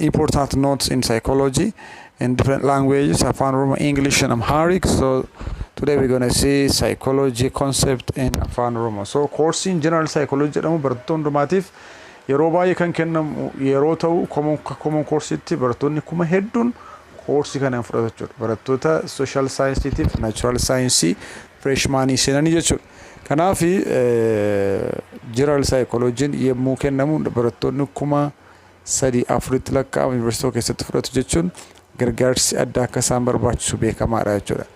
Important notes in psychology in different languages, Afan Oromo, English and Amharic. So today we're going to see psychology concept in Afan Oromo. So course in general psychology jedhamu barattoota hundumaatiif yeroo baay'ee kan kennamu yeroo ta'u common common course itti barattoonni kuma hedduun koorsii kana hin fudhatu jechuudha. Barattoota social science tiif natural science freshman seenanii jechuudha. Kanaaf general psychology yommuu kennamu barattoonni kuma 3, 4tti lakkaa'amu Yuunivarsiitii tokko keessatti fudhatu jechuun gargaarsi addaa akka isaan barbaachisu beekamaadha jechuudha.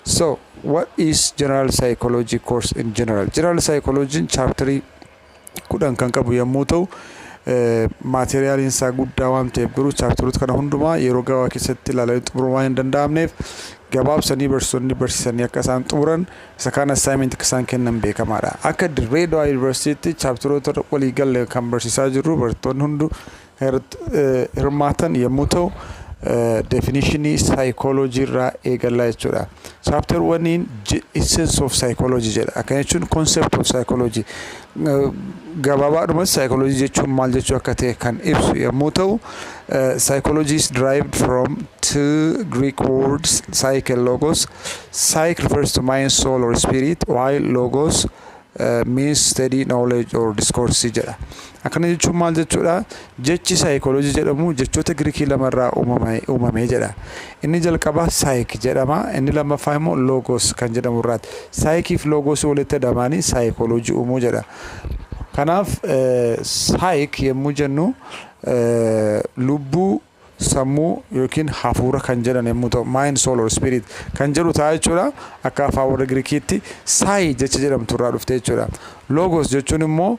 So, what is general psychology course in general? General psychology'n chaaptarii kudhan kan qabu yommuu ta'u maateriyaaliin isaa guddaa waan ta'eef garuu chaaptaroota kana hundumaa yeroo gabaabaa keessatti ilaalanii xumuruun waan hin danda'amneef gabaabsanii barsiisonni barsiisanii akka isaan xumuran Isa kaan assignment akka isaan kennan beekamaadha. Akka Dirree Dawaa Yuunivarsiitiitti chaapteroota walii galle kan barsiisaa jirru barattoonni hundu kan irratti hirmaatan yommuu ta'u definishinii saayikooloojii irraa eegallaa jechuudha. Chaapterwaniin essence of psychology jedha. Akkana jechuun concept of psychology Gabaabaadhumatti saayikooloojii jechuun maal jechuu akka ta'e kan ibsu yommuu ta'u, saayikooloojii is derived from two Greek words psyche logos. Psyche refers to mind, soul or spirit while logos uh, means study, knowledge or discourse jedha. Akkana jechuun maal jechuudha? Jechi saayikooloojii jedhamu jechoota Girikii lama irraa uumame jedha. Inni jalqabaa saayik jedhama, inni lammaffaa immoo loogoos kan jedhamu irraati. Saayikii fi loogoosii walitti dhamaanii saayikooloojii uumuu jedha. Kanaaf saayik yommuu jennu lubbuu sammuu yookiin hafuura kan jedhan yommuu ta'u, mind, soul or spirit kan jedhu ta'a jechuudha. Akka afaan warra Girikiitti saayi jecha jedhamtu irraa dhufte jechuudha. Logos jechuun immoo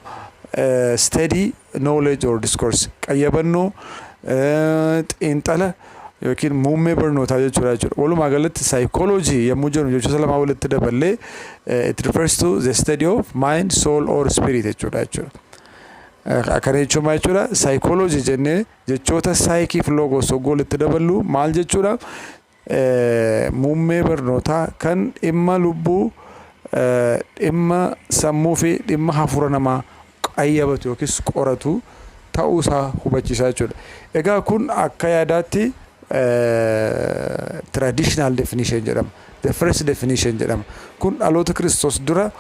steady knowledge or discourse qayyabannoo xiinxala yookiin muummee barnootaa jechuudha jechuudha. Walumaa galatti psychology yommuu jennu jechoota lamaa walitti daballee it refers to the study of mind, soul or spirit jechuudha jechuudha. Akkana jechuun maal jechuudha? Psychology jennee Jechoota saayikii fi loogoos hogguu walitti daballu maal jechuudha? Muummee barnootaa kan dhimma lubbuu, dhimma sammuu fi dhimma hafuura namaa qayyabatu yookiis qoratu ta'uu isaa hubachiisaa jechuudha. Egaa kun akka yaadaatti traditional definition jedhama. The First Definition jedhama. Kun dhaloota Kiristoos dura,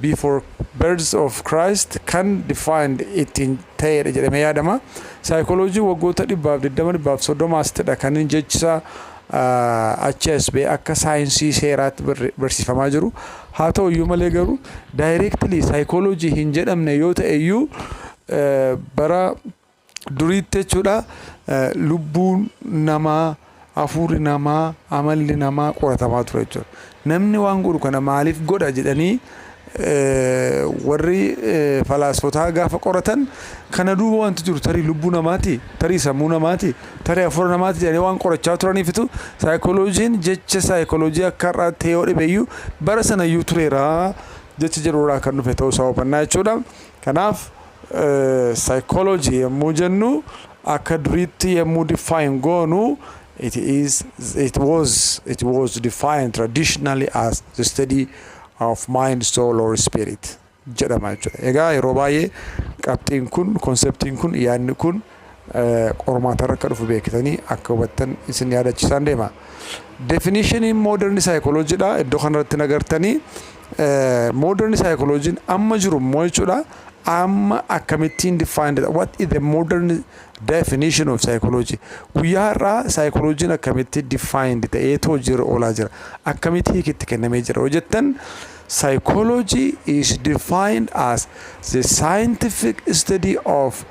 before birth of Christ, kan defined, ittiin ta'eedha jedhamee yaadama. Saayikooloojiin waggoota dhibbaaf 20, dhibbaaf 30 asitidha kan inni jechisaa achi as ba'e akka saayinsii seeraatti barsiifamaa jiru. Haa ta'u iyyuu malee garuu directly saayikooloojii hin jedhamne yoo ta'e iyyuu bara duriitti jechuudha lubbuun namaa, hafuurri namaa, amalli namaa qoratamaa ture jechuudha. Namni waan godhu kana maaliif godha jedhanii warri falaasfotaa gaafa qoratan kana duuba wanti jiru tarii lubbuu namaati, tarii sammuu namaati, tarii hafuura namaati jedhanii waan qorachaa turaniifitu saayikolojiin jecha saayikoloojii akka har'aatti yoo dhibeyyuu bara sanayyuu tureera jecha jedhurraa kan dhufe ta'uu isaa hubannaa jechuudha. Kanaaf Psychology yommuu jennu akka duriitti yommuu define goonu it is it was it was defined traditionally as the study of mind soul or spirit jedhama jechuudha. Egaa yeroo baay'ee qabxiin kun konseptiin kun yaadni kun qormaatarra akka dhufu beekitanii akka hubattan isin yaadachisaan deema. Definishiniin mooderni saayikolojiidha. Iddoo kanarratti nagartanii mooderni saayikolojiin amma jiru immoo jechuudha. Amma akkamittiin definedha? What is the modern definition of psychology? Guyyaa har'aa saayikolojiin akkamitti defined ta'eetu hojiirra oolaa jira? Akkamitti hiikitti kennamee jira? Hojjettan psychology is defined as the scientific study of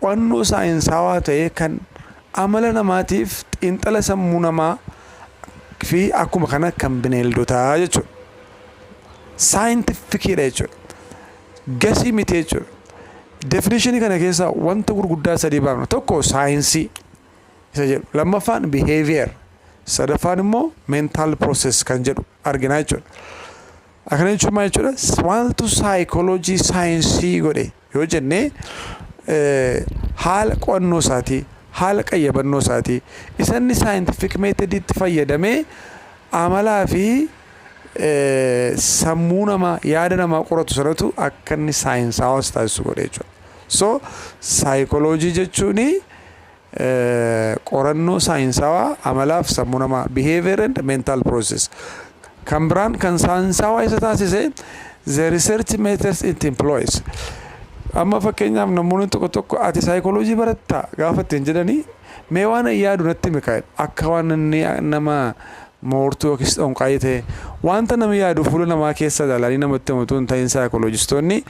Qo'annoo saayinsaawaa ta'ee kan amala namaatiif xiinxala sammuu namaa fi akkuma kana kan bineeldotaa jechuudha. Saayintifikiidha jechuudha. Gasii miti jechuudha. Definishinii kana keessaa wanta gurguddaa sadii baafna. Tokko saayinsii isa jedhu. Lammaffaan behavior. Sadaffaan immoo mental process kan jedhu argina jechuudha. Akkana jechuun maal jechuudha? Maaltu saayikooloojii saayinsii godhe yoo jenne haala qo'annoo isaatii, haala qayyabannoo isaatii, isa inni saayintifik meetodiitti fayyadamee amalaa fi sammuu namaa, yaada namaa qoratu sanatu akka inni saayinsaawaa si taasisu godhe jechuudha. So saayikooloojii jechuun qorannoo saayinsaawaa amalaaf sammuu namaa behavior and mental process kan biraan kan saayinsaawaa isa taasise the research methods it employs amma fakkeenyaaf namoonni tokko tokko ati saayikooloojii baratta gaafa ittiin jedhanii mee waan yaadu natti mikaa'e akka waan inni nama Moortuu yookiis xonqaayii ta'e. Wanta namni yaadu fuula namaa keessa ilaalanii namatti himu utuu hin ta'in saayikooloojistoonni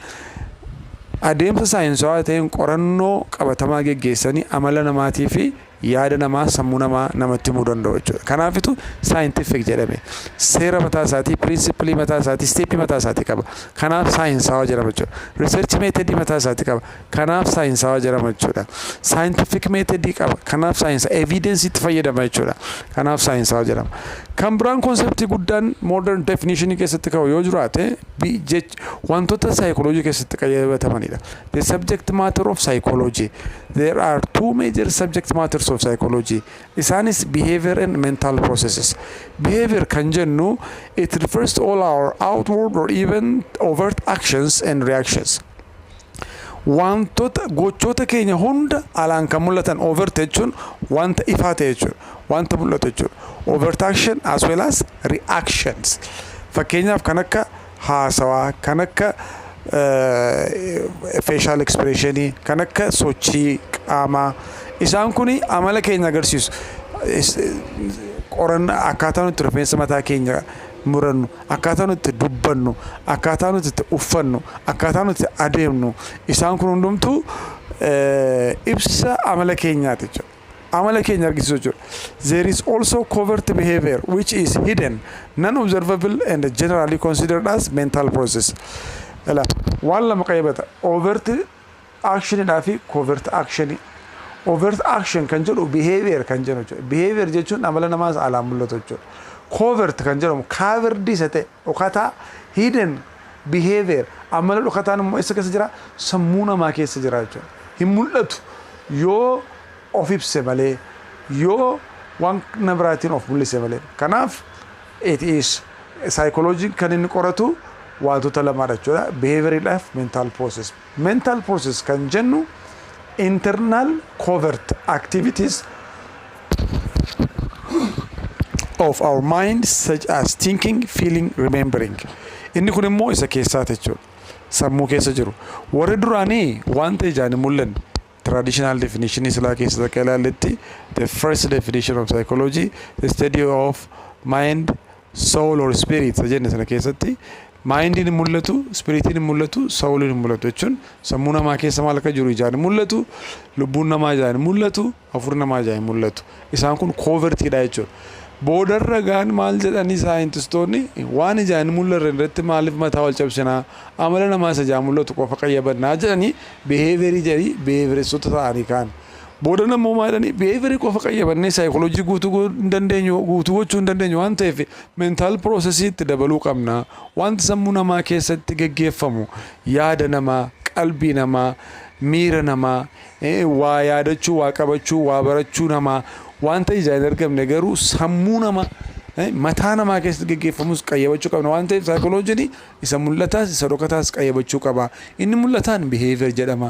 adeemsa saayinsawaa ta'een qorannoo qabatamaa geggeessanii amala namaatii fi yaada namaa, sammuu namaa namatti himuu danda'u jechuudha. Kanaafitu saayintifiik jedhame. Seera mataa isaatii, piriinsippilii mataa isaatii, isteeppii mataa isaatii qaba. Kanaaf saayinsaawaa jedhama jechuudha. Riisarchi meetadii mataa isaatii qaba. Kanaaf saayinsaawaa jedhama jechuudha. Saayintifiik meetedii qaba. Kanaaf saayinsa eviidensiitti fayyadama jechuudha. Kanaaf saayinsaawaa jedhama. Kan biraan konseptii guddaan moodern definishinii keessatti ka'u yoo jiraate wantoota saayikoloojii keessatti qayyabatamanidha. The subject matter of psychology. There are two major subject matters of psychology. Isaanis behavior and mental processes. Behavior kan jennu it refers to all our outward or even overt actions and reactions. Waantota, gochoota keenya hunda alaan kan mul'atan overt jechuun wanta ifaa ta'e jechuudha. Wanta mul'atu jechuudha. Overt action as well as reactions. Fakkeenyaaf kan akka haasawaa, kan akka facial expression, kan akka sochii qaamaa. Isaan kun amala keenya agarsiisu. Qorannaa akkaataa nuti rifeensa mataa keenya murannu, akkaataa nuti itti dubbannu, akkaataa nuti itti uffannu, akkaataa nuti itti adeemnu isaan kun hundumtuu ibsa amala keenyaati jechuudha. Amala keenya argisiisu jechuudha. There is also covert behavior which is hidden, non-observable and generally considered as mental process. Waan lama qayyabata. Overt Action dhaa fi covert action. Overt action kan jedhu behavior kan jennu jechuudha. Behavior jechuun amala namaa isa alaan mul'atu jechuudha. Covert kan jedhamu covered isa ta'e dhokataa hidden behavior amala dhokataan immoo eessa keessa jira? Sammuu namaa keessa jira jechuudha. Hin mul'atu yoo of ibse malee yoo waan na biraatiin of mul'ise malee. Kanaaf it is psychology kan inni qoratu waantota lamaadha jechuudha. Behavior dhaaf mental process. Mental process kan jennu internal covert activities of our mind such as thinking, feeling, remembering. Inni kun immoo isa keessaati jechuudha. Sammuu keessa jiru. Warri duraanii wanta ijaan hin mul'anne traditional definition silaa keessa akka ilaalletti the first definition of psychology the study of mind soul or spirit isa jenne sana keessatti maayindiin hin mul'atu, ispiriitiin hin mul'atu, sawuliin hin mul'atu jechuun sammuu namaa keessa maal akka jiru ijaan hin mul'atu, lubbuun namaa ijaan hin mul'atu, hafuurri namaa ijaan hin mul'atu. Isaan kun koovertiidha jechuudha. Boodarra gaan maal jedhanii saayintistoonni waan ijaan hin mul'arre irratti maaliif mataa wal cabsinaa amala namaa isa ijaan mul'atu qofa qayyabannaa jedhanii biheeverii jedhanii biheeveressota ta'anii kaan Boodan ammoo maa jedhanii behavior qofa qayyabannee psychology guutuu go- hin dandeenyu guutuu gochuu hin dandeenyu waan ta'eef mental process itti dabaluu qabna wanti sammuu namaa keessatti geggeeffamu yaada namaa qalbii namaa miira namaa eh, waa yaadachuu waa qabachuu waa barachuu namaa wanta ijaan hin argamne garuu sammuu namaa eh, mataa namaa keessatti geggeeffamus qayyabachuu qabna waan ta'eef psychology isa mul'ataas isa dhokataas qayyabachuu qaba inni mul'ataan behavior jedhama